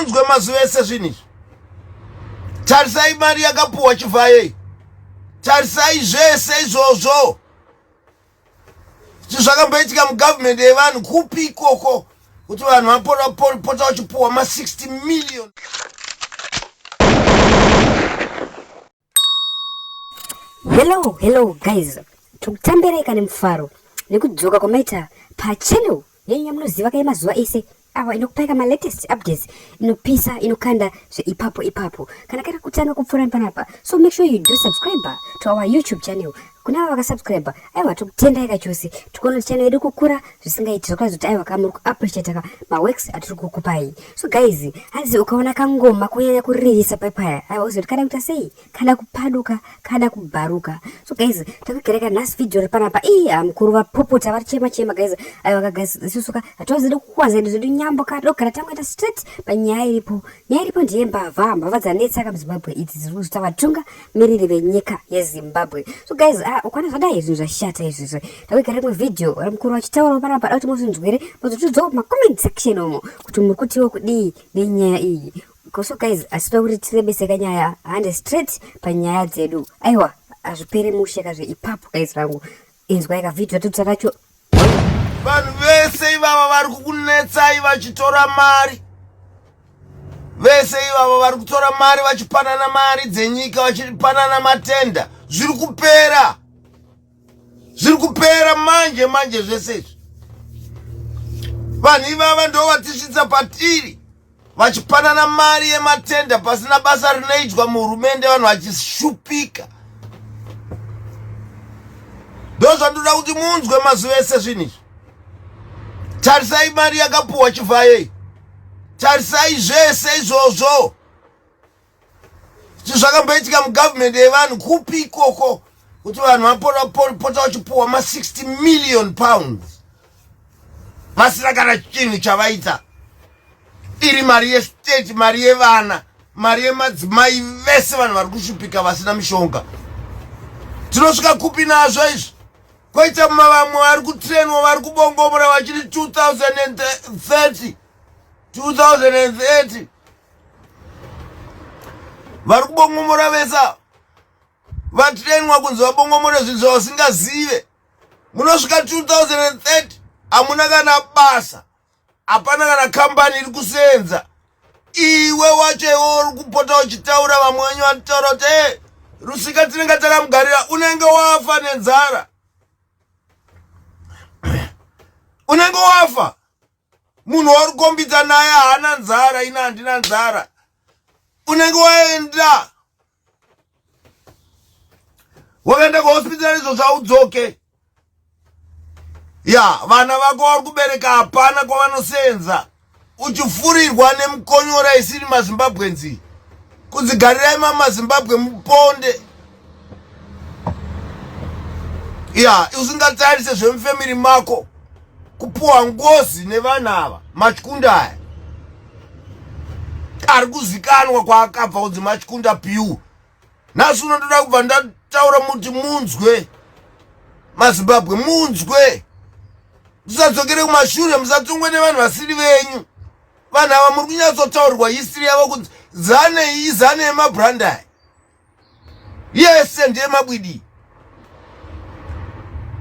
unzwe mazuva ese zvinhu izvi tarisai mari yakapuhwa chivhayei tarisai zvese izvozvo zvakamboitika mugovernment yevanhu kupi ikoko kuti vanhu vapota vachipuhwa ma 60 million Hello, hello guys. Tokutambereka nemufaro nekudzoka kwamaita pachannel yenyu yamunoziva kaye mazuva ese awa inokupaika malatest updates inopisa inokanda zveipapo ipapo kana kari kutanga kupfuura panapa so make sure you do subscribe to our youtube channel kuna avo vakasubscribe aiwa tikutendai kachose tikuona channel yedu kukura zvisingaiti zvakazi kuti aiwa ka muri kuappreciate ka maworks atiri kukupai so guys hanzi ukaona kangoma kunyanya kuririsa paipaya aiwa uziva kuti kada kuita sei kada kupaduka kada kubharuka so guys takugereka nhasi video ri panapa ii mukuru vapopota vari chema chema guys aiwa ka guys isusu ka hatiwazidi kukwanza edu zvedu nyambo ka todogara tangoita straight panyaya iripo nyaya iripo ndiye mbavha mbavha dzanetsa ka muzimbabwe idzi dziri kuzvita vatunga miriri venyika yezimbabwe so guys ah, ukwana zvadai zvinhu zvashata izvizvo takuigara imwe video vari mukuru vachitaurawo panapa da kuti muzvinzwire mozotidzawo mumacomment section umo kuti muri kutiwo kudii nenyaya iyi so guys asi toda kuti tirebeseka nyaya hande straight panyaya dzedu aiwa hazvipere mushe kazve ipapo guys rangu inzwai kavhidhio totsa kacho vanhu vese ivava vari kukunetsai vachitora mari vese ivava vari kutora mari vachipanana mari dzenyika vachipanana matenda zviri kupera zviri kupera manje manje zvese izvi vanhu ivava ndovatisvitsa patiri vachipanana mari yematenda pasina basa rinoitwa muhurumende vanhu vachishupika ndozvandoda kuti munzwe mazuva ese zvinhu izvi tarisai mari yakapuhwa chivhayei tarisai zvese izvozvo zvakamboitika mugovernment yevanhu kupi ikoko kuti vanhu vapota vachipuhwa ma60 million pounds vasina kana chinhu chavaita iri mari yestate mari yevana mari yemadzimai vese vanhu vari kushupika vasina mishonga tinosvika kupi nazvo izvi koita mavamwe vari kutrenwa vari kubongomora vachiri 2030 2030 vari kubongomora vese ava vatrenwa kunzi vabongomore zvinhu zvavasingazive munosvika 2030 hamuna kana basa hapana kana kambani iri kuseenza iwe wacho iwe uri kupota uchitaura vamwe wenyu vanotaura kuti e rusika tinenge takamugarira unenge wafa nenzara unenge wafa munhu wauri kukombidza naye haana nzara ina handina nzara unenge waenda wakaenda kuhospital izvo zvaudzoke ya vana vako vari kubereka hapana kwavanosenza uchifurirwa nemukonyora isiri mazimbabwe nzi kudzigarirai mamazimbabwe muponde ya usingatarise zvemufamily mako kupuwa ngozi nevana ava machikunda aya ari kuzikanwa kwaakabva kunzi machikunda piu nhasi unotoda kubva ndataura muti munzwe mazimbabwe munzwe musadzokere kumashure musatongwe nevanhu vasiri venyu vanhu ava muri kunyatsotaurirwa hisiri yavo kunzi zanei izanei mabrandai yese ndeyemabwidi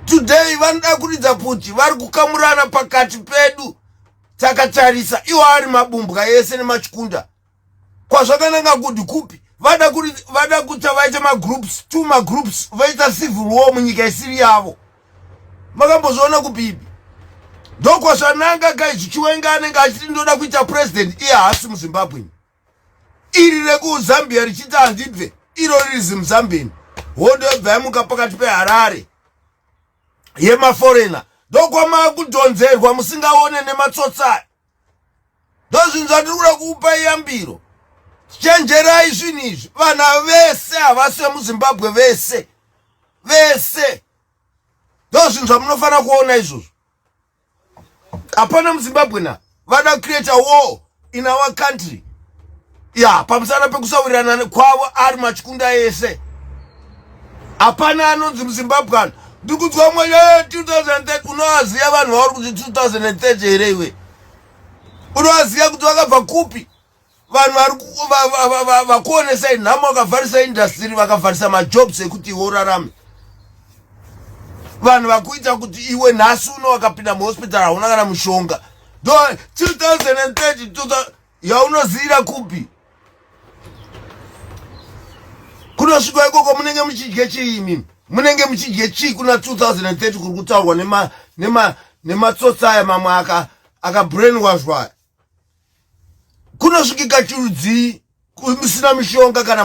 today vanoda kuridza pfuti vari kukamurana pakati pedu takatarisa iwo ari mabumbwa yese nemachikunda kwazvakananga kuti kupi vada kuti vada kuti vaite magroups two magroups vaita civil war munyika isiri yavo makambozviona kupipi ndokwazvananga kai chichiwenga anenge achiti ndoda kuita president iye haasi muzimbabwe iri rekuzambia richiti handibve iro riri zimuzambian hondo yobva yamuka pakati peharare yemaforena ndokwamava kudhonzerwa musingaone nematsotsa ndozvinhu zvatiri kuda kuupa iyambiro chenjerai zvinhu izvi vana vese havasi vemuzimbabwe vese vese ndozvinhu zvamunofanira kuona izvozvo hapana muzimbabwe na vada create a war in our country ya pamusana pekusawirirana kwavo ari machikunda ese hapana anonzi muzimbabwe ano ndikudzwa mwenye 2030 unoaziva vanhu vauri kuti 2030 here iwe unoaziva kuti vakabva kupi vanhu vari vakuonesai nhamo vakavharisa indastiri vakavharisa majobs ekuti iwe urarame vanhu vakuita kuti iwe nhasi uno wakapinda muhospital hauna kana mushonga do 2030 yaunoziyira kupi kunosvika ikoko munenge muchidye chii imimi munenge muchidye chii kuna 2030 kuri kutaurwa nematsotsi aya mamwe akabrainwashwa aka kunosvikika chirudzii musina mishonga kana